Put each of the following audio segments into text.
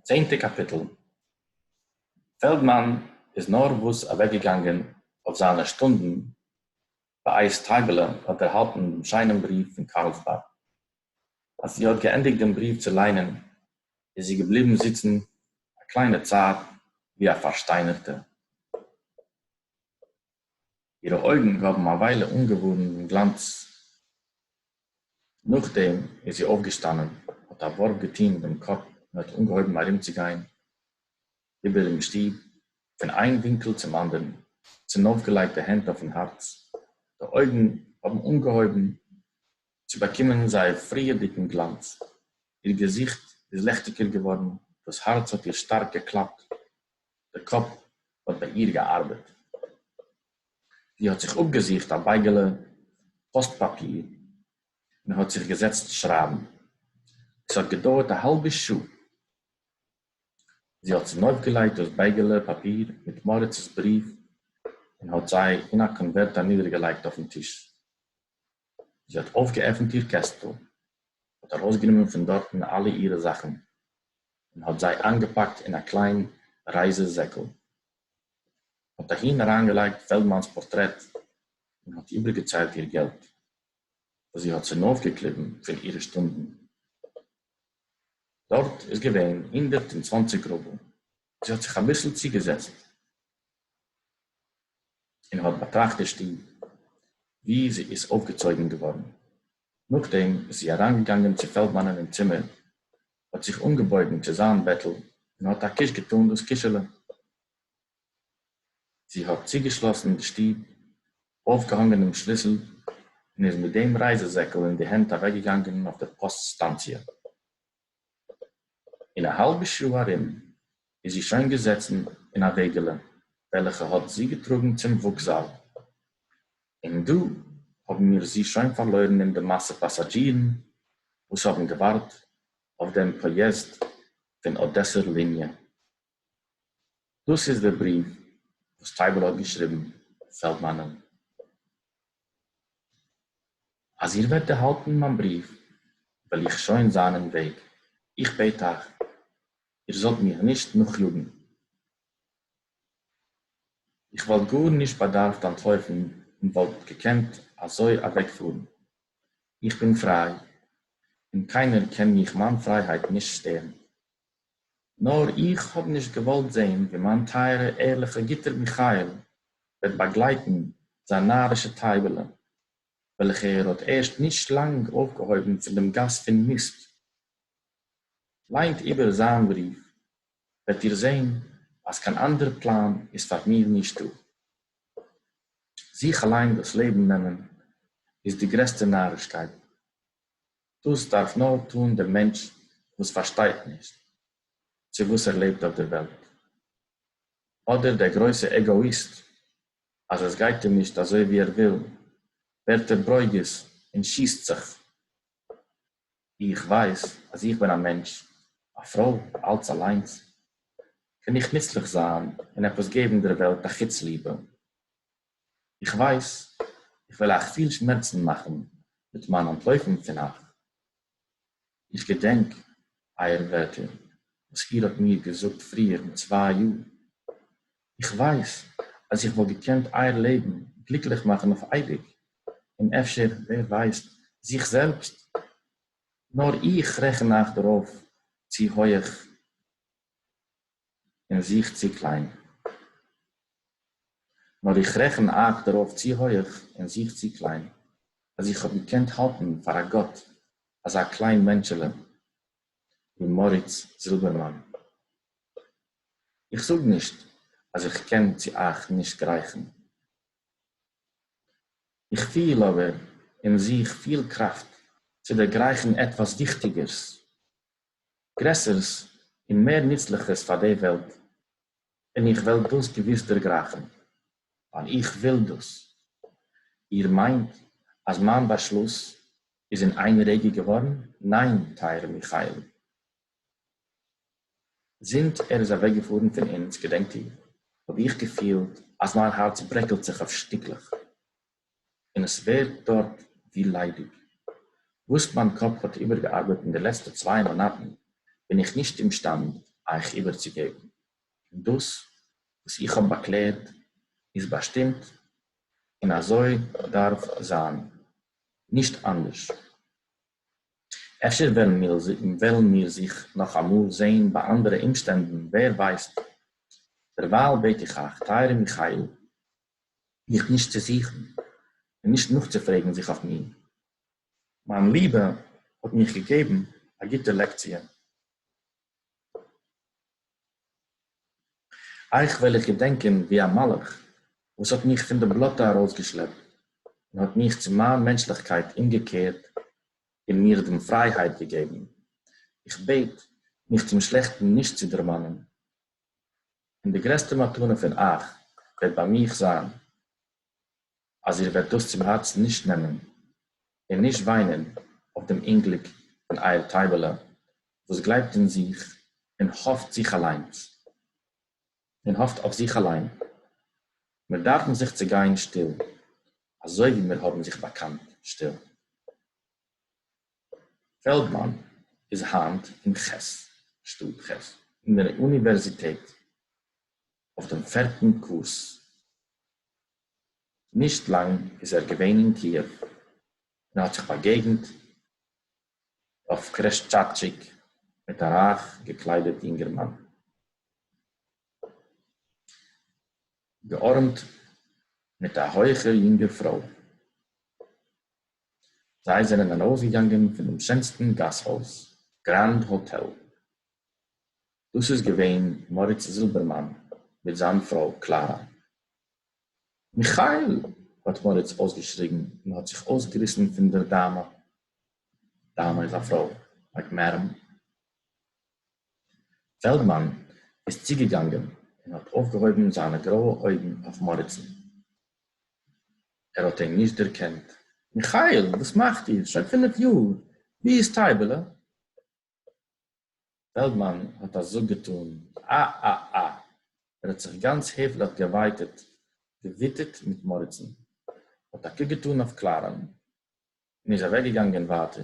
צענטע קאפיטל פעלדמאן איז נארוואס אוועקגעגאנגען אויף זיינע שטונדן ביי אייז טייבעלע האט ערהאלטן דעם שיינעם בריוו פון קארלסבאד אז זי האט געענדיגט דעם בריוו צו ליינען איז זי געבליבן זיצן א קליינע צייט ווי א פארשטיינערטע. אירע אויגן האָבן אַ וויילע אָנגעוואָרן דעם גלאַנץ. נאָכדעם איז זי אויפֿגעשטאַנען, האָט אַ וואָרף געטאָן דעם קאָפּ און האָט אָנגעהויבן אַרומצוגיין איבערן שטוב, פֿון איין ווינקל צום אַנדערן, צונויפֿגעלייגט די הענט אויפֿן האַרץ. די אויגן האָבן אָנגעהויבן צו באַקומען זייער פֿריִערדיקן גלאַנץ. איר געזיכט איז ליכטיקער געוואָרן, דאָס האַרץ האָט איר שטאַרק געקלאַפּט, דער קאָפּ האָט בײַ איר געאַרבעט. זי האָט זיך אָפּגעזוכט אַ בײגעלע פּאָסט-פּאַפּיר און האָט זיך געזעצט שרײַבן. עס האָט געדויערט אַ האַלבע שעה. זי האָט צונויפֿגעלייגט דאָס בײגעלע פּאַפּיר מיט מאָריצעס בריוו און האָט זיי אין אַ קאָנווערט אַנידערגעלייגט אויפֿן טיש. זי האָט אױפֿגעעפֿנט איר קעסטל, האָט אַרױסגענומען פֿון דאָרטן אַלע אירע זאַכן און האָט זײ אײַנגעפּאַקט אין אַ קלײן רײַזע-זעקל, האָט אַהין אַרײַנגעלײגט פֿעלדמאַנס פּאָרטרעט און האָט איבערגעצײלט איר געלט, װאָס זי האָט צונױפֿגעקליבן פֿון אירע שטונדן. דאָרט איז געװען הונדערט און צװאַנציק רובל. זי האָט זיך אַ ביסל צוגעזעצט און האָט באַטראַכט די שטוב, וואו זי איז אויפֿגעצויגן געוואָרן. נאָכדעם איז זי אַרײַנגעגאַנגען צו פֿעלדמאַנען אין צימער, האָט זיך אָנגעבויגן צו זײַן בעטל און האָט אַ קיש געטאָן דאָס קישעלע. זי האָט צוגעשלאָסן די שטוב, אויפֿגעהאָנגען דעם שליסל און איז מיט דעם רײַזע-זעקל אין די הענט אַוועקגעגאַנגען אויף דער פּאָסט-סטאַנציע. אין א האלבע שעה ארום איז זי שוין געזעצן אין א וועגעלע וועלכע האט זי געטראגן צום וואוקזאל, און דא האבן מיר זי שוין פארלוירן אין די מאסע פאסאדזשירן וואס האבן געווארט אויף דעם פאיעזד פון אדעסער ליניע. דאס איז דער בריוו וואס טייבעלע האט געשריבן פעלדמאנען. אז איר וועט ערהאלטן מיין בריוו וועל איך שוין זיין אין וועג. איך בעט אייך איר זאלט מיר נישט נאכיאגן. איך וואלט גארנישט באדארפט אנטלויפן און וואלט געקענט אזוי אוועקפארן. איך בין פריי און קיינער קען מיך מיין פרייהייט נישט שטערן. נאר איך האב נישט געוואלט זעהן ווי מיין טייערע ערליכע גוטער מיכאל וועט באגלייטן זיין נארישע טייבעלע וועלכע ער האט ערשט נישט לאנג אויפגעהויבן פון דעם גאס פון מיסט. ליינט איבער זיין בריוו וועט איר זעהן אז קיין אנדערע פלאן איז פאר מיר נישט דא. זיך אליין דאס לעבן נעמען איז די גרעסטע נארישקייט. דאס דארף נאר טון דער מענטש וואס פארשטייט נישט צו וואס ער לעבט אויף דער וועלט, אדער דער גרויסע עגאאיסט, אז עס גייט אים נישט אזוי ווי ער וויל, ווערט ער ברוגז און שיסט זיך. איך ווייס אז איך בין א מענטש, א פרוי, אלץ אליינס, קען איך נוצליך זיין און עפעס געבן דער וועלט א חוץ ליבע, איך ווייס איך וועל אייך פיל שמערצן מאכן מיט מיין אנטלויפן פון אייך, איך געדענק אייער ווערטער וואס איר האט מיר געזאגט פריער מיט צוויי יאר, איך ווייס אז איך וואלט געקענט אייער לעבן גליקליך מאכן אויף אייביג, און אפשר ווער ווייסט זיך זעלבסט, נאר איך רעכן אייך דערויף צו הויעך. און זיך צו קליין. נאָר איך רעכן אײַך דערויף צו הויך און זיך צו קליין, אַז איך האָב געקענט האַלטן פֿאַר אַ גאָט אַזאַ קליין מענטשעלע, ווי מאָריץ זילבערמאַן. איך זאָג נישט, אַז איך קען צו אײַך נישט גרייכן. איך פֿיל אָבער אין זיך פֿיל קראַפֿט צו דערגרייכן עטוואָס וויכטיקערס, גרעסערס און מער נוצליכערס פאר די וועלט, און איך וועל דאס געוויס דערגרייכן, ווייל איך וויל דאס. איר מיינט אז מיין באשלוס איז אין איין רגע געווארן? ניין, טייערע מיכאל. זינט ער איז אוועקגעפארן פון אונז, געדענקט איר, האב איך געפילט אז מיין הארץ ברעקלט זיך אויף שטיקלעך. און עס ווערט דארט ווי ליידיג. וואס מיין קאפ האט איבערגעארבעט אין די לעצטע צוויי מאנאטן בין איך נישט אומשטאנד אייך איבערצוגעבן, און דאס וואס איך האב באקלערט איז באשטימט און אזוי דארף זיין, נישט אנדערש. אפשר וועלן מיר זיך נאך אמאל זען ביי אנדערע אומשטענדן, ווער ווייסט. דערווייל בעט איך אייך, טייערע מיכאיל, מיך נישט צו זוכן און נישט נאכצופרעגן זיך אויף מיר. מיין ליבע האט מיך געגעבן א גוטע לעקציע. אייך וועל איך געדענקען ווי א מלאך וואס האט מיך פון די בלאטע ארויסגעשלעפט און האט מיך צו מיין מענטשליכקייט אומגעקערט און מיר דעם פרייהייט געגעבן. איך בעט מיך צום שלעכטן נישט צו דערמאנען, און די גרעסטע מתנה פון אייך וועט ביי מיך זיין, אז איר וועט דאס צום הארצן נישט נעמען, און נישט וויינען אויף דעם אומגליק פון אייער טייבעלע, וואס גלייבט אין זיך און האפט זיך אליינס, און האפט אויף זיך אליין. מיר דארפן זיך צעגיין שטיל, אזוי ווי מיר האבן זיך באקאנט שטיל. פעלדמאן איז היינט אין חת ס, שטאט חת ס, אין דער אוניווערזיטעט אויף דעם פערטן קורס. נישט לאנג איז ער געווען אין קיעוו און האט זיך באגעגנט אויף קרעשטשאטשיק מיט א רייך געקליידעט יונגערמאן, געארעמט מיט א הויכער יונגער פרוי. זיי זענען ארויסגעגאנגען פונעם שענסטן גאסהויז, גרענד האטעל. דאס איז געווען מאריץ זילבערמאן מיט זיין פרוי קלארא. מיכאל! האט מאריץ אויסגעשריגן און האט זיך אויסגעריסן פון דער דאמע. דאמע איז א פרוי, לייק מעדאם. פעלדמאן איז צוגעגאנגען און האט אויפגעהויבן זיינע גרויע אויגן אויף מאריצן. ער האט אים נישט דערקענט. מיכאיל, וואס מאכט איר? שוין פינף יאר! ווי איז טייבעלע? פעלדמאן האט א זאג געטאן. א-א-א! ער האט זיך גאנץ העפליך געווייטעט, געוויטעט מיט מאריצן, האט א קוק געטאן אויף קלארען און איז אוועקגעגאנגען ווייטער.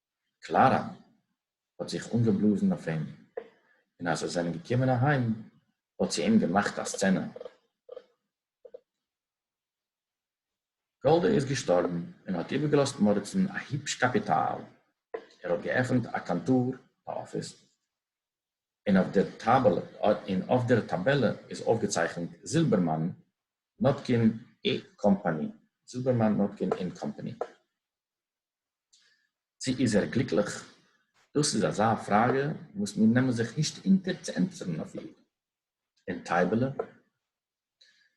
קלאַראַ האָט זיך אָנגעבלאָזן אויף אים, און אַז זיי זענען געקומען אַהיים, האָט זי אים געמאַכט אַ סצענע. גאָלדע איז געשטאָרבן און האָט איבערגעלאָזט מאָריצן אַ היפּש קאַפּיטאַל. ער האָט געעפֿנט אַ קאַנטאָר, אַ אָפֿיס, און אויף דער טאַבעלע און אויף דער טאַבעלע איז אויפֿגעצייכנט, זילבערמאַן, נאָטקין, אי, קאָמפּאַני, זילבערמאַן, נאָטקין און קאָמפּאַני. צו איז ער גליקליך? דאס איז אזא פראגע וואס מיר נעמען זיך נישט אונטער צו ענטפערן אויף איר. און טייבעלע?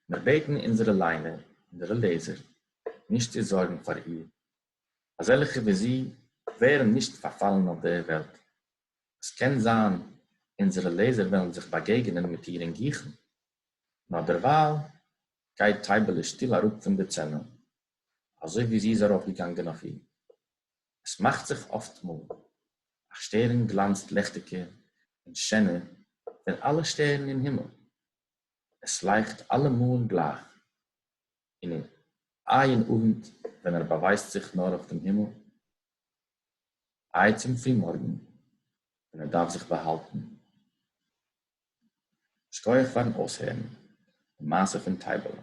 מיר בעטן אונזערע ליינער, אונזערע לעזער, נישט צו זארגן פאר איר. אזעלכע ווי זי ווערן נישט פארפאלן אויף דער וועלט. עס קען זיין אונזערע לעזער וועלן זיך באגעגענען מיט איר אין גיכן, נאר דערווייל גייט טייבעלע שטיל אראפ פון די צענע, אזוי ווי זי איז ארויפגעגאנגען אויף אים. עס מאכט זיך אפטמאל א שטערן גלאנצט לעכטיגער און שענער פון אלע שטערן אין הימל, עס לייכט אלעמאל גלייך, און איין אוונט ווען ער באווייזט זיך נאר אויף דעם הימל, איי צום פרימארגן ווען ער דארף זיך באהאלטן. שכויעך פארן אויסהערן די מעשה פון טייבעלע.